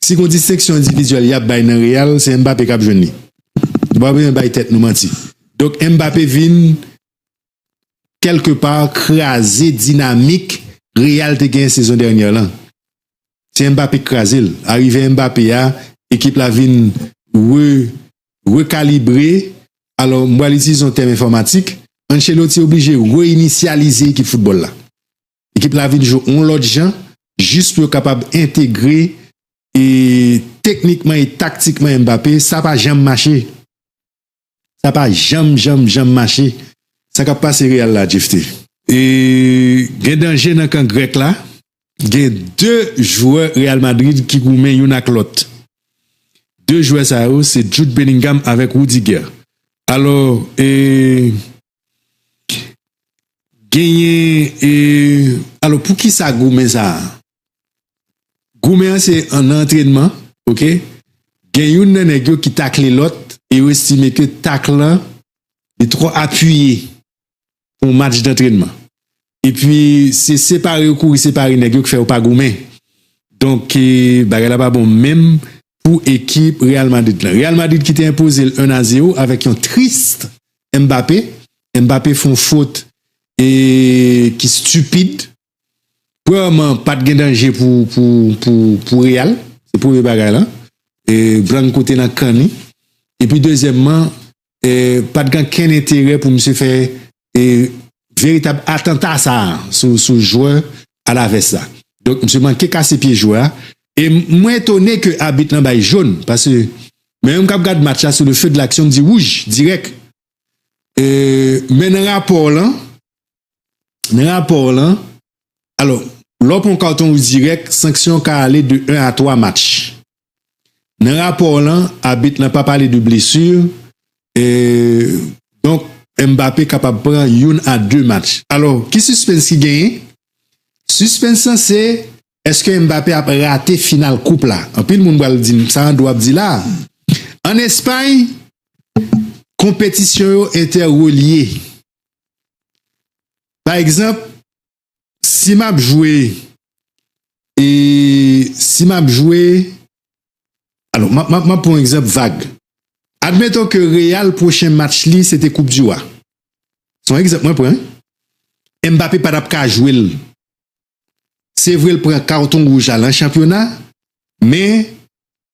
Si gon distenksyon endividyèl yap bay nan Real se Mbappé kap jwenn li. Nou pa bezwen bay tèt nou manti. Donk Mbappé vin kèlke pa kraze dinamik Real te genyen sezon dènyè lan. Se Mbappé ki kraze l. Arive Mbappé a ekip la vin re rekalibre. Alò m pral itilize yon tèm enfòmatik, Ancelotti oblije re-inisyalize ekip foutbòl la. Ekip la vin jwe yon lòt jan jis pou yo kapab entegre e teknikman e taktikman Mbappé. Sa pa janm mache. Sa pa janm, janm, janm mache. Sa k ap pase Real la, Jephte? E gen danje nan kan grèk la. Gen 2 jwè Real Madrid ki goumen youn ak lòt. 2 jwè sa yo se Jude Bellingham avèk Rudiger. Alò e. genyen e alo pou kisa goumen sa goumen an se an antrenman ok gen youn nan nèg yo ki takle lòt e yo estime ke tak lan li trò apiye pou match dantrenman Epi se separe yo kouri separe nèg yo ki fè yo pa goumen. Donk bagay la pa bon menm pou ekip Real Madrid lan. Real Madrid ki te enpoze l 1 a 0 avèk yon trist Mbappé. Mbappé fè yon fot e ki stupid. Premyèman pat gen danje pou Real. Se premye bagay la. E Blanco te nan kan li. Epi dezyèmman pa t gen kenn enterè pou misye fè veritab atanta sa a sou jwè Alavès la. Donk misye manke kase pye jwè a. E mwen etone ke abit lan bay jòn, pase mwen menm k ap gad match la sou le feu de l'action m di wouj dirèk. Men nan rapò lan, nan rapò lan, alò lè w pran yon katon wouj dirèk, sanksyon w ka ale de 1 a 3 match. Nan rapò lan, abit lan pa pale de blesu, e donk Mbappe kapab pran youn a 2 match. Alò, ki sispens ki genyen? Sispens lan se, eske Mbappe ap rate final koup la? Anpil moun pral di m, sa Andro ap di la? An Espay, konpetisyon yo entè relye. Pa egzanp, Si map jwe e si map jwe alon map pran egzanp vag admeton ke real pwochen match li se te koup di wa son egzanp mwen pran Mbappe pa tap ka jwe l se vre l pran karton wouj la lan chanpyona men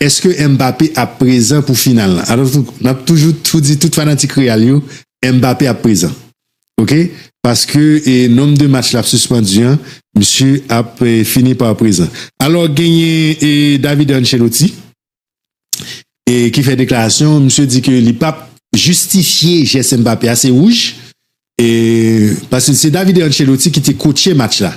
Eske Mbappé ap prezan pou final lan? Map toujou tou di tout fanatik Real yo Mbappé ap prezan ok paske nomb de match lap suspandu an misye ap fini par prezan. Alò genyen David Ancelotti ki fè deklarasyon misye di ke li pap jistifye jès Mbappé a se wouj paske se David Ancelotti ki te kotche match la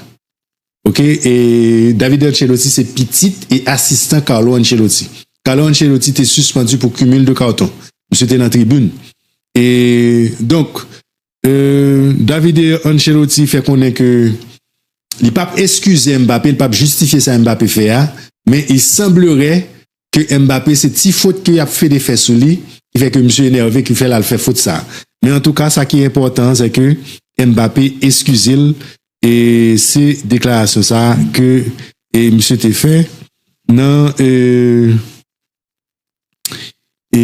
Ok e David Ancelotti se pitit e asistan Carlo Ancelotti. Carlo Ancelotti te suspandu pou cumul de carton. Misye te nan tribun. E donk e Davide Ancelotti fè konnen ke li pap eskize Mbappe, li pap justifye sa Mbappe fè a, men il semblerait ke Mbappé se ti fot ke yap fede fè sou li ki fè ke misye enève ki fèl al fè fot sa. Men antouka sa ki enpòtan an sè ke Mbappé eskizel e se deklarasyon sa ke e misye te fè nan e e.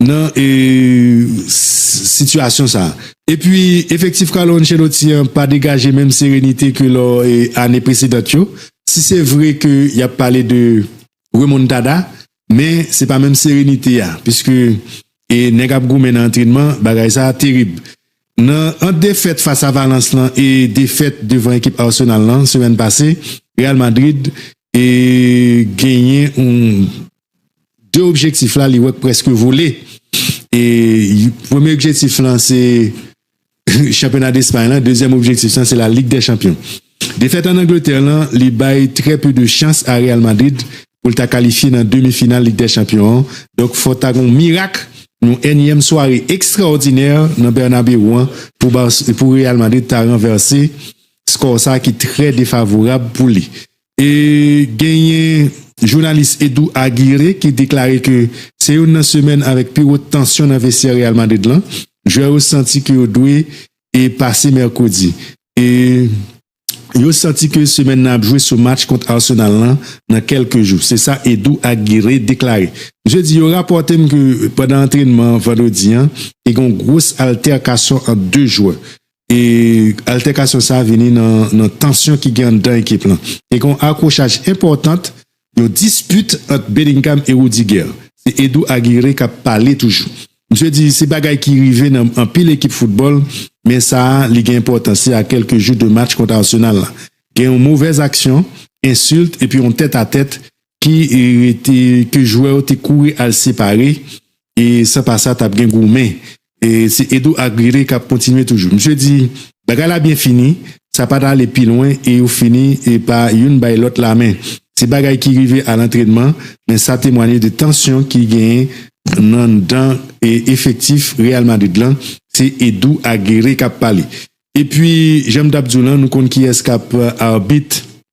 nan sitiyasyon sa. Epi efektif Carlo Ancelotti an pa degaje menm serenite ke lò ane presedant yo. Si se vre ke y ap pale de remontada, men se pa menm serenite a, piske nèg ap goumen nan antrenman, bagay sa terib. Nan ant defèt fas a Valence lan e defèt devan ekip Arsenal lan semèn pase, Real Madrid genyen yon. 2 objektif la li wè preske vole e premye objektif lan se chanpyona despay lan, dezyèm objektif lan se la lig de chanpyon defèt an angletè lan li bay trè peu de chans a real madrid pou l ta kalifye nan demi final lig de chanpyon an donk fò ta gon mirak yon ènyèm sware ekstraòdinè nan bernabeu an pou real madrid ta ranvèse skò sa ki trè defavorab pou li. E genyen jounalis Edou Aguirre ki deklare ke se youn nan semèn avèk pi wo tansyon nan vestyè Real Madrid lan. Jwè yo santi ke yo dwe e pase mèkredi. E yo santi ke semèn nan ap jwe sou match kont Arsenal lan nan kèlke jou. Se sa Edou Aguirre deklare. Misye di yo rapòte m ke pandan antrenman vandredi an te gen yon gwos altèkasyon ant 2 jwè. E altèkasyon sa vini nan tansyon ki gen anndan ekip lan. Te gen yon akwochaj enpòtant, yon dispit ant Bellingham e Rudiger. Se Edou Aguirre k ap pale toujou. Misye di se bagay ki rive nan anpil ekip foutbòl, men sa li gen enpòtans se a kèlke jou de match kont Arsenal la. Gen yon movèz aksyon, ensilt epi yon tèt a tèt ki rete ke jwè yo te kouri al separe e san pa sa tap gen goumen e se Edou ak Rere kap kontinye toujou misye di bagay la byen fini sa pat ale pi lwen e yo fini e pa youn bay lòt lamen se bagay ki rive al antrenman men sa temwanye de tansyon ki genyen nan dan e efektif Real Madrid lan se Edou ak Rere kap pale epi janm tap diw lan nou konn kiyès kap arbit.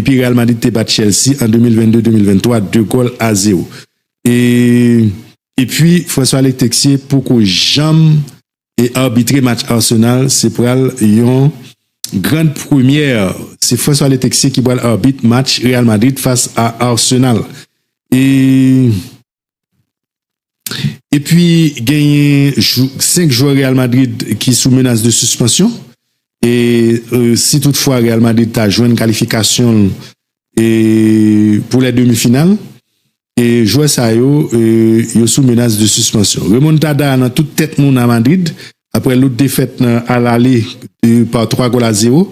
Epi Real Madrid te bat Chelsea an 2022-2023 2 gòl a 0. E epi François Alex Texier poko janm e arbitre match Arsenal se pral yon grand première se François Alex Texier ki pral arbitre match Real Madrid fas a Arsenal e E pi genyen 5 jwè Real Madrid ki sou menas de sispansyon. E si tout fwa Real Madrid ta jwenn kalifikasyon e pou lè demi final. E jwè sa yo, yo sou menas de sispansyon. Remon Tada nan tout tèt moun a Madrid. Aprè lout defèt nan al ale pa 3 gol a 0.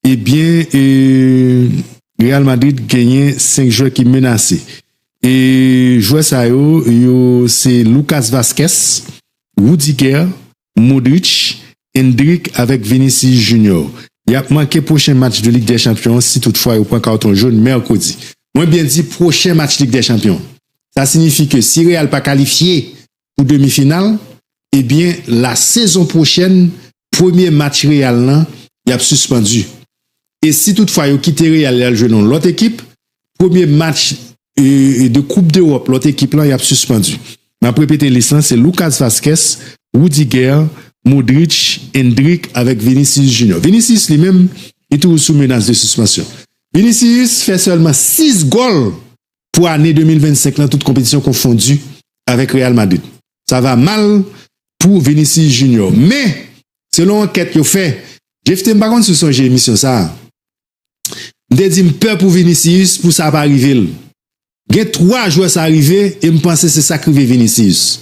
Ebyen e Real Madrid genyen 5 jwè ki menase e jwè sa yo yo se Lucas Vazquez, Rudiger, Modric, Endrick avèk Vinicius Junior. Yap manke pwochen match de Lig dè Chanpyon an si tout fwa yo pran karton jaune mèkredi. Mwen byen di pwochen match Lig dè Chanpyon. Sa sinifi ke si Real pa kalifye pou demi final ebyen la sezon pwochèn premye match Real lan yap sispandu e si tout fwa yo kite Real yal jwe nan lòt ekip premye match de koup dewòp lòt ekip lan yap sispandu map repete lis lan se Lucas Vazquez Rudiger Modric Endrick avèk Vinicius Junior Vinicius li menm li toujou sou menas de sispansyon Vinicius fè sèlman 6 gòl pou ane 2025 lan tout konpetisyon konfondi avèk Real Madrid. Sa va mal pou Vinicius Junior. Men, selon ankèt yo fè, Jephté m pa konn si w sonje emisyon sa a. M te di m pè pou Vinicius pou sa pa rive l. Gen 3 jwè sa rive e m panse se sa k rive Vinicius.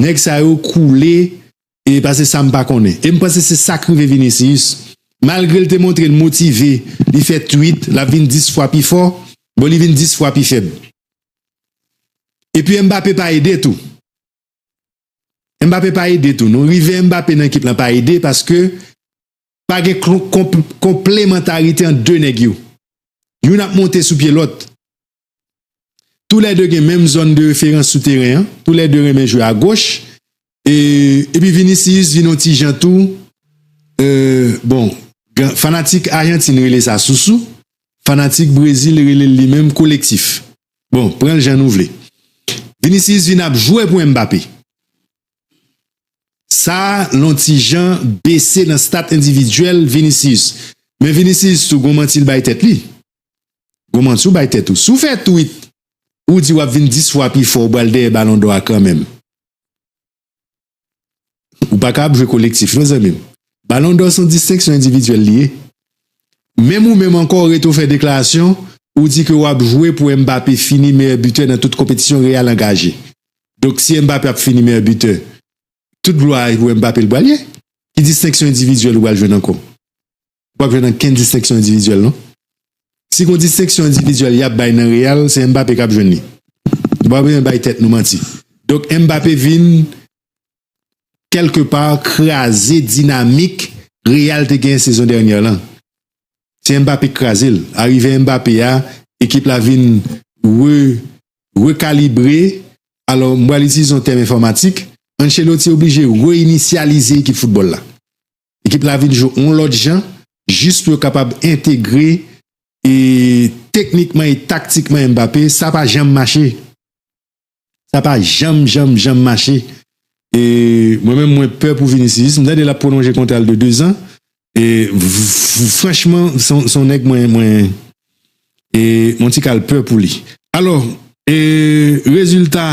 Nèg sa yo koule e pase sa m pa konnen. E m panse se sa k rive Vinicius. Malgre l te montre l motive, li fè tweet, l ap vin 10 fwa pi fò, bon li vin 10 fwa pi fèb. Epi Mbappé pa ede tou. Mbappé pa ede tou non. Rive Mbappé nan ekip lan pa ede paske pa gen konplemantarite ant 2 nèg yo. Youn ap monte sou pye lòt. Tou lè 2 gen menm zòn de referans sou teren an, tou lè 2 renmen jwe a goch, epi Vinicius vin yon ti jan tou, bon, fanatik Ajantin rele sa sousou, fanatik Brezil rele l li menm kolektif. Bon, pran l jan nou vle. Vinicius vin ap jwe pou Mbappé. Sa lon ti jan bese nan stat endividyèl Vinicius. Men Vinicius tou gon manti l bay tèt li. Gwo manti w bay tèt ou. Si w fè tweet ou di w ap vin 10 fwa pi fò ou pral dèyè balon dò a kanmenm. Ou pa ka ap jwe kolektif non zanmi m. Balon dò son distenksyon endividyèl li ye. Menm ou menm ankò ou rete ou fè deklarasyon ou di ke w ap jwe pou Mbappé fini meyè bitè nan tout konpetisyon Real angaje. Donk si Mbappé ap fini meyè bitè tout glwa a pou Mbappé l pral ye. Ki distenksyon endividyèl ou pral jwenn ankò? wap jwenn ankenn distenksyon endividyèl non. Si gon distenksyon endividyèl yap bay nan Real, se Mbappé kap jwenn li. Nou pa bezwen bay tèt nou manti. Donk Mbappé vin kèlke pa kraze dinamik Real te genyen sezon dènyè lan. Se Mbappé ki kraze l. Arive Mbappé a, ekip la vin re rekalibre, alò m pral itilize yon tèm enfòmatik, Ancelotti oblije re-inisyalize ekip foutbòl la. Ekip la vin jwe yon lòt jan jis pou yo kapab entegre e teknikman e taktikman Mbappé, sa pa janm mache. Sa pa janm janm janm mache. E mwen menm mwen pè pou Vinicius, m tande lap pwolonje kontra l de 2 zan. E franchman son nèg mwen mwen e yon ti kal pè pou li. Alò e rezilta.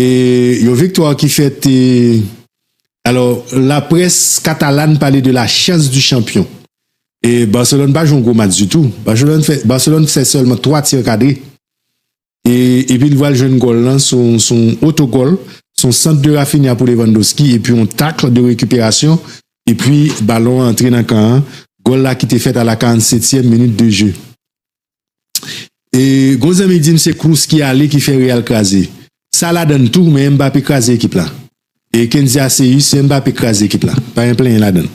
E yon viktwa ki fèt e alò la près katalan pale de la chans di chanpyon. E Barcelone pa jwe yon gwo match ditou. Barcelone fè sèlman 3 tir kadre. E epi li vwal jwenn gòl lan sou yon oto gòl, sou yon sant de Rafinha pou Lewandowski epi yon takl de rekiperasyon epi balon antre nan kan an. Gòl la ki te fèt a la 47 tièm minit de je. E gon zanmi dim se Kroos ki ale ki fè Real kraze. Sa ladann tou men Mbappé kraze ekip la. E Kenzy Aceus se Mbappé ki kraze ekip la. Pa gen plenyen ladann.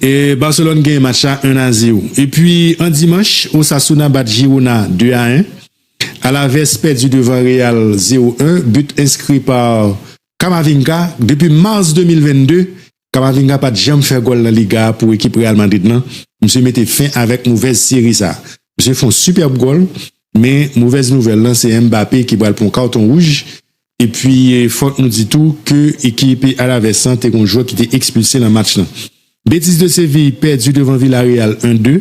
E Barcelone genyen match la 1 a 0. Epi an dimanch Osasuna bat Girona 2 a 1. Alaves pèdi devan Real 0 1 but enskri par Camavinga depi mars 2022 Camavinga pat janm fè gòl nan Liga a pou ekip Real Madrid lan, misye mete fen avèk movèz seri sa. Misye fè yon sipèb gòl, men movèz nouvèl lan se Mbappé ki pral pran yon karton wouj, epi fòk nou di tou ke ekip Alaves lan te gen yon jwè ki te ekspilse nan match lan. Betis de Séville pèdi devan Villarreal 1-2.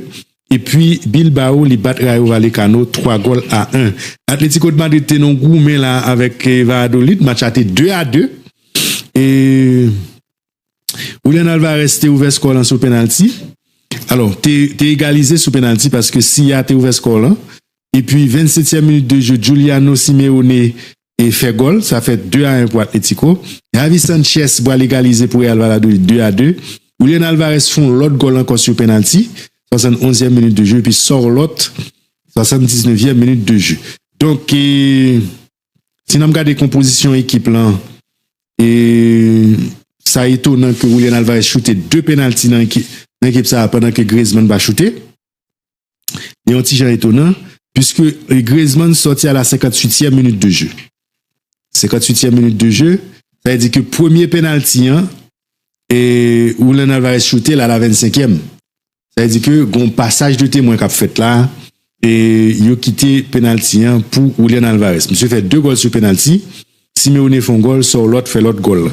Epi Bilbao li bat Rayo Vallecano 3 gòl a 1. Atletico de Madrid te nan goumen la avèk Valladolid, match la te 2 a 2 e Julian Alvarez te ouvè skò lan sou penalti, alò te egalize sou penalti paske Silla te ouvè skò lan. Epi 27 tièm minit de jeu Juliano Simeone e fè gòl, sa fè 2 a 1 pou Atlético. Javi Sanchez pral egalize pou Real Valladolid 2 a 2. Julian Alvarez fè yon lòt gòl ankò sou penalti, 71 èm minit de jeu, epi Sorloth 79 èm minit de jeu. Donk, si n ap gade konpozisyon ekip lan, e sa etonan ke Julian Alvarez choute 2 penalti nan ekip sa a pandan ke Griezmann pa choute. Li yon ti jan etonan, piske Griezmann sòti a la senkantuityèm minit de je. Senkantuityèm minit de je, sa vle di ke premye penalti an, Julian Alvarez choute l a la vennsenkyèm. Sa vle di ke gon pasaj de temwen k ap fèt la, e yo kite penalti an pou Julian Alvarez. Misye fè 2 gòl sou penalti, Simeone fè yon gòl, Sorloth fè lòt gòl la.